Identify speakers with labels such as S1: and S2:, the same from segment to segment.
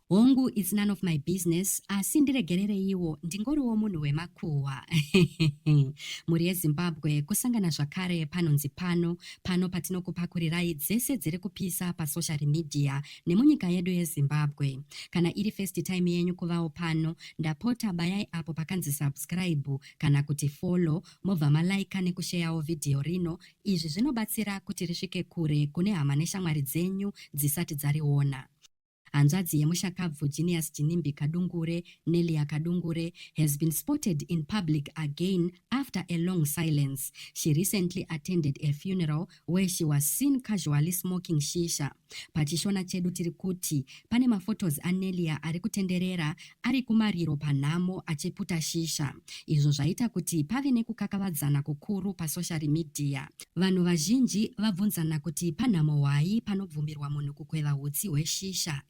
S1: Hongu it's none of my business asi ndiregerereiwo ndingoriwo munhu wemakuhwa mhuri yezimbabwe kusangana zvakare panonzi pano pano patinokupakurirai dzese dziri kupisa pasocial media nemunyika yedu yezimbabwe kana iri first time yenyu kuvawo pano ndapota bayai apo pakanzi subscribe kana kuti follow mobva malaika nekusheyawo vhidhiyo rino izvi zvinobatsira kuti risvike kure kune hama neshamwari dzenyu dzisati dzariona Hanzvadzi yemushakabvu Genius Jinimbi Kadungure, Nelia Kadungure, has been spotted in public again after a long silence. She recently attended a funeral where she was seen casually smoking shisha. PaChishona chedu tiri kuti pane maphotos aNelia ari kutenderera ari kumariro panhamo achiputa shisha izvo zvaita kuti pave nekukakavadzana kukuru pasoshari midhiya. Vanhu vazhinji vabvunzana kuti panhamo hwai panobvumirwa munhu kukweva utsi hweshisha.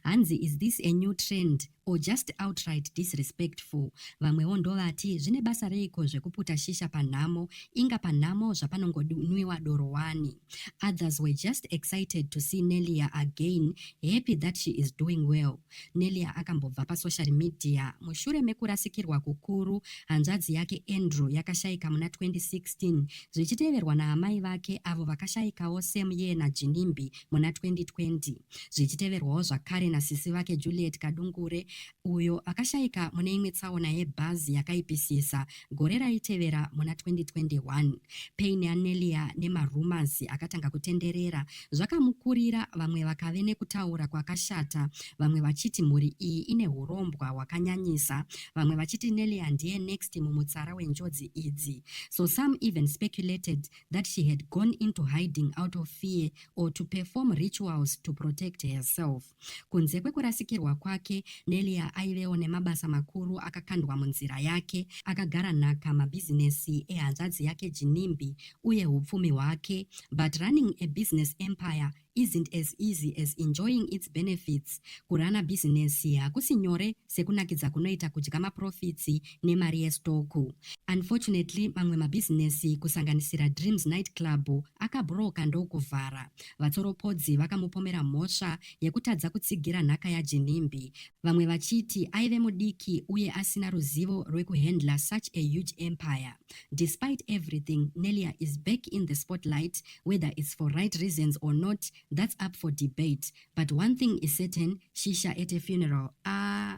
S1: Hanzi is this a new trend or just outright disrespectful? Vamwewo ndovati zvine basa reiko zvekuputa shisha panhamo, inga panhamo zvapanongonwiwa doro wani. Others were just excited to see Nelia again, happy that she is doing well. Nelia akambobva pasocial media mushure mekurasikirwa kukuru hanzvadzi yake Andrew yakashaika muna 2016 zvichiteverwa naamai vake avo vakashaikawo same year naJinimbi muna 2020 zvichiteverwawo zvakare nasisi vake Juliet Kadungure uyo akashaika mune imwe tsaona yebhazi yakaipisisa Gore raitevera muna 2021, Payne Anelia nemarumours akatanga kutenderera zvakamukurira vamwe vakave nekutaura kwakashata vamwe vachiti mhuri iyi ine hurombwa hwakanyanyisa vamwe vachiti Nelia ndiye next mumutsara wenjodzi idzi so some even speculated that she had gone into hiding out of fear or to perform rituals to protect herself. Kunze kwekurasikirwa kwake, Delia aivewo nemabasa makuru akakandwa munzira yake, akagara nhaka mabhizinesi ehanzvadzi yake Jinimbi uye hupfumi hwake. But running a business empire isn't as easy as enjoying its benefits. Kurana bhizinesi hakusi nyore sekunakidza kunoita kudya maprofitsi nemari yestoku. Unfortunately, mamwe mabhizinesi kusanganisira Dreams Night Club akabhuroka ndokuvhara. Vatsoropodzi vakamupomera mhosva yekutadza kutsigira nhaka yaJinimbi, vamwe vachiti aive mudiki uye asina ruzivo rwekuhandler such a huge empire. Despite everything, Nelia is back in the spotlight, whether it's for right reasons or not, that's up for debate. But one thing is certain, shisha at a funeral, aah!